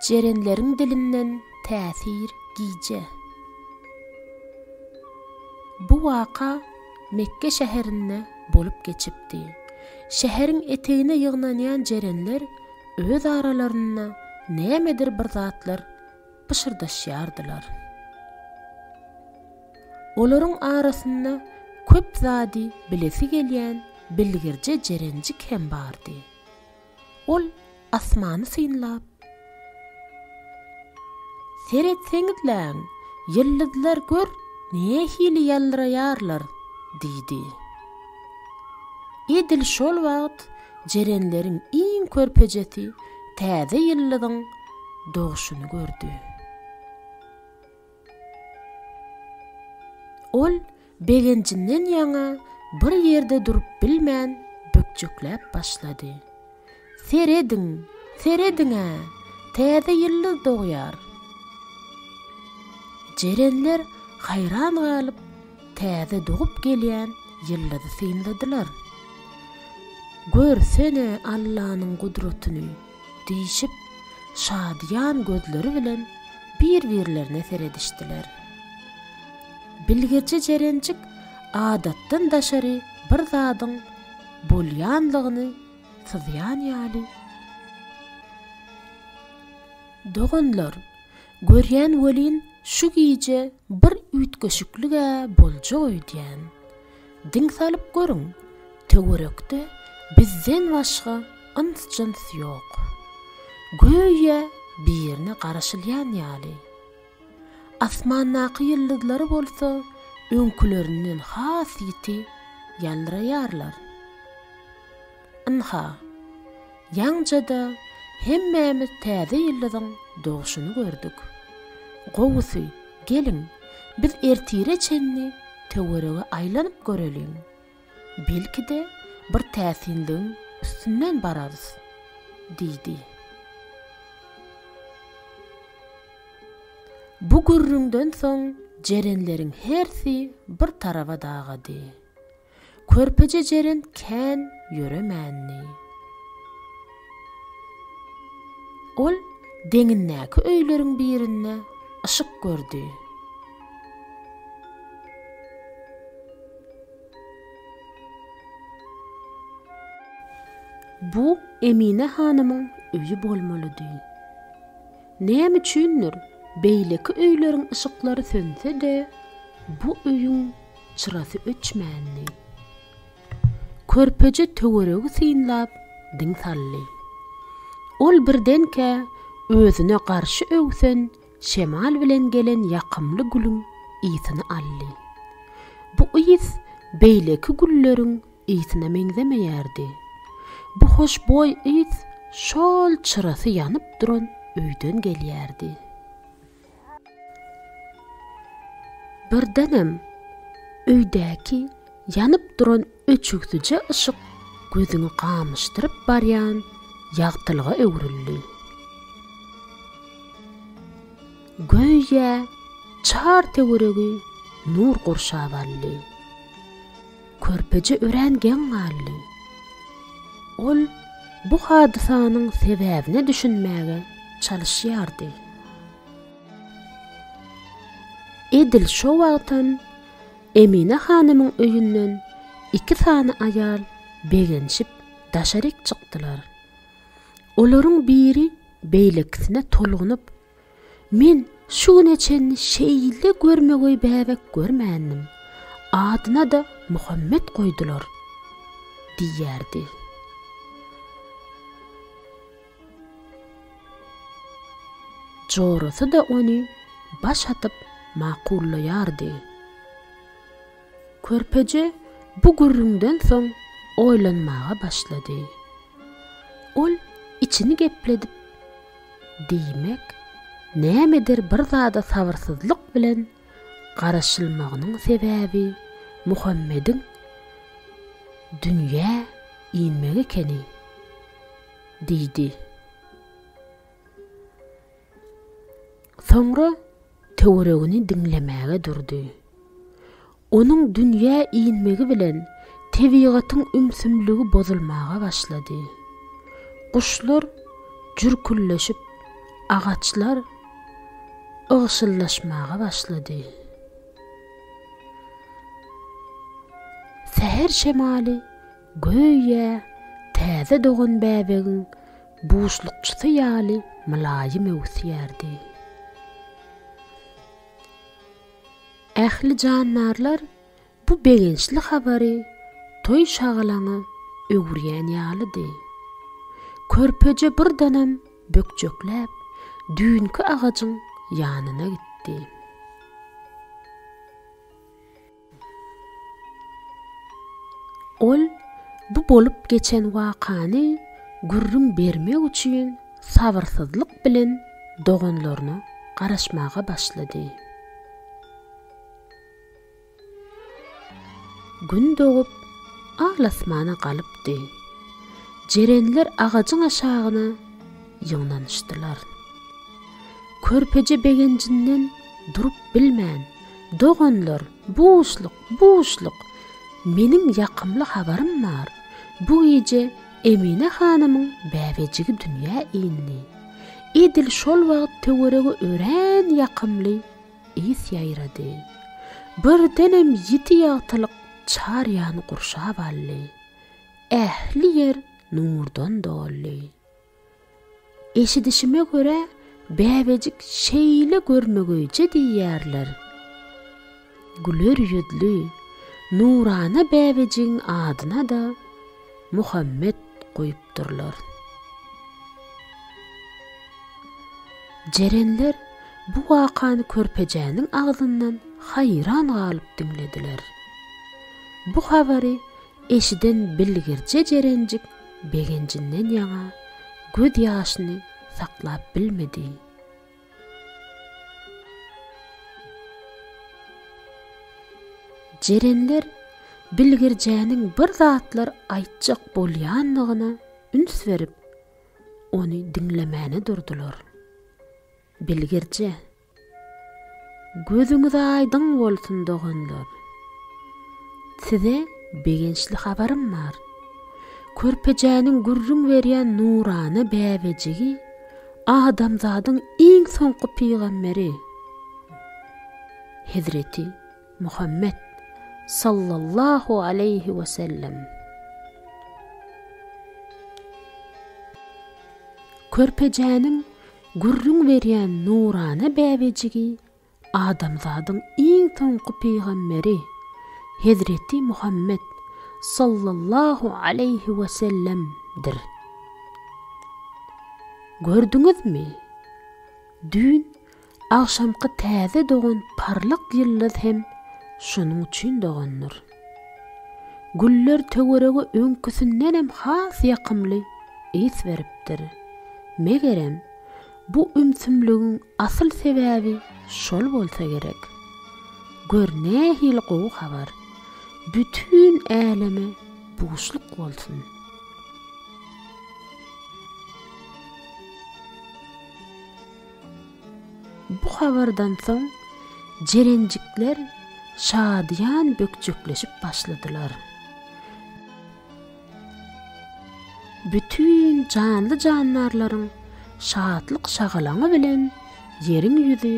Jerenleriň dilinden täsir gije. Bu waka Mekge şäherinde bolup geçipdi. Şäheriň etegine ýygnanýan jerenler öz aralarynda nämedir bir zatlar pyşyrdaşýardylar. Olaryň arasynda köp zady bilesi gelýän bilgirje jerenjik hem bardy. Ol asmany synlap, Seretseňizläň, ýyldyzlar gör nähili ýalýraýarlar! diýdi. Edil şol wagt jerenleriň iň körpejesi täze ýyldyzyň dogşuny gördi. Ol begenjinden ýaňa bir ýerde durup bilmän bökjekläp başlady. Serediň, serediň-ä, täze ýyldyz dogýar! Jerenler haýran galyp, täze dogup gelýän ýyldyzy synladylar. Görsene Allanyň gudratyny! Diýşip, şadyýan gözleri bilen bir-birlerine seredişdiler. Bilgirji Jerenjik adatdan daşary bir zadyň bolýanlygyny syzýan ýaly, Doganlar, görýän welin, şu gije bir üýtgeşiklik-ä boljag öýdýän. Diň salyp görüň, töwerekde bizden başga yns-jyns ýok. Göýä birine garaşylýan ýaly. Asmandaky ýyldyzlar bolsa öňkülerinden has ýiti ýalraýarlar. Ynha, ýaňja-da hemmämiz täze ýyldyzyň dogşuny gördük. Gowusy, geliň, biz ertire çenli töwerege aýlanyp göreliň. Belki-de, bir täsinligiň üstünden bararys, diýdi. Bu gürrüňden soň jerenleriň hersi bir taraba dagady. Körpeje Jeren kän ýöremändi. Ol deňindäki öýleriň birinde yşyk gördi. Bu Emine hanymyň öýi bolmalydy. Näme üçindir, beýleki öýleriň yşyklary sönse-de, bu öýüň çyrasy öçmändi. Körpeje töweregi synlap diň saldy. Ol birdenkä özüne garşy öwsen şemal bilen gelen ýakymly gülüň ysyny aldy. Bu ys beýleki gülleriň ysyna meňzemeýärdi. Bu hoşboý ys şol çyrasy ýanyp duran öýden gelýärdi. Birdenem öýdäki ýanyp duran öçügsije yşyk gözüňi gamyşdyryp barýan ýagtylyga öwrüldi. Göýä çar töweregi nur gurşap aldy. Körpeje örän geň galdy. Ol bu hadysanyň sebäbine düşünmäge çalyşýardy. Edil şo wagtam Emine hanymyň öýünden iki sany aýal begenişip daşaryk çykdylar. Olaryň biri beýlekisine tolgunyp Men şu güne çenli şeýle görmegeý bäbek görmändim. Adyna-da Muhammet goýdular, diýerdi. Jorasy-da ony baş atyp makullaýardy. Körpeje bu gürrüňden soň oýlanmaga başlady. Ol içini gepledip. Diýmek, nämedir bir zada sabyrsyzlyk bilen garaşylmagynyň sebäbi Muhammediň dünýä inmegi ekeni? diýdi. Soňra töweregini diňlemäge durdy. Onuň dünýä inmegi bilen tebigatyň ümsümligi bozulmaga başlady. Guşlar jürküldeşip, agaçlar ygşyldaşmaga başlady. Säher şemaly göýä täze dogan bäbegiň buşlukçysy ýaly mylaýym öwüsýärdi. Ähli jandarlar bu begençli habary toý-şagalaňa öwürýän ýalydy. Körpeje birdenem bökjekläp, düýnki agajyň ýanyna gitdi. Ol bu bolup geçen wakany gürrüň bermek üçin sabyrsyzlyk bilen doganlaryna garaşmaga başlady. Gün dogup, al-asmana galypdy. Jerenler agajyň aşagyna ýygnanyşdylar. Körpeje begenjinden durup bilmän, Doganlar, buşluk, buşluk! Meniň ýakymly habarym bar. Bu gije Emine hanymyň bäbejigi dünýä indi. Edil şol wagt töwerege örän ýakymly ys ýaýrady. Birdenem ýiti ýagtylyk çar ýany gurşap aldy. Ähli ýer nurdan doldy. Eşidişime görä, bäbejik şeýle görmegeýje diýýärler. Güler ýüzli, nurana bäbejigiň adyna-da Muhammet goýupdyrlar. Jerenler bu wakany körpejäniň agzyndan haýran galyp diňlediler. Bu habary eşiden bilgirje Jerenjik begenjinden ýaňa göz ýaşyny saklap bilmedi. Jerenler bilgirjäniň bir zatlar aýtjak bolýanyna üns berip, ony diňlemäne durdular. Bilgirje. Gözüňiz aýdyň bolsun doganlar! Size begençli habarym bar. Körpejäniň gürrüň berýän nurana bäbejigi adamzadyň iň soňky pygamberi Hezreti Muhammet sallallahu aleýhi we sellem. Körpejäniň Gürrüň berýän nurana bäbejigi adamzadyň iň soňky pygamberi Hezreti Muhammet sallallahu aleýhi wesellemdir. Gördüňizmi, düýn agşamky täze dogan parlak ýyldyz hem şonuň üçin dogandyr. Güller töwerege öňküsindenem has ýakymly ys beripdir. Megerem, bu ümsümligiň asyl sebäbi şol bolsa gerek. Gör nähili gowy habar! Bütin äleme buşluk bolsun! Bu habardan soň jerenjikler şadyýan bökjekleşip başladylar. Bütin janly-jandarlaryň şatlyk-şagalaňy bilen ýeriň ýüzi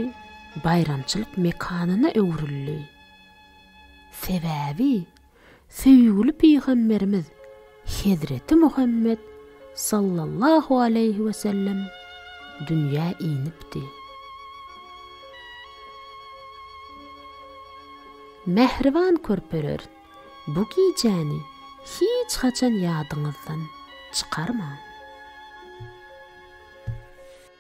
baýramçylyk mekanyna öwrüldi. Sebäbi Söýgüli Pygamberimiz Hezreti Muhammet sallallahu aleýhi we sellem dünýä inipdi. Mähriban körpeler, bu gijäni hiç haçan ýadyňyzdan çykarmaň.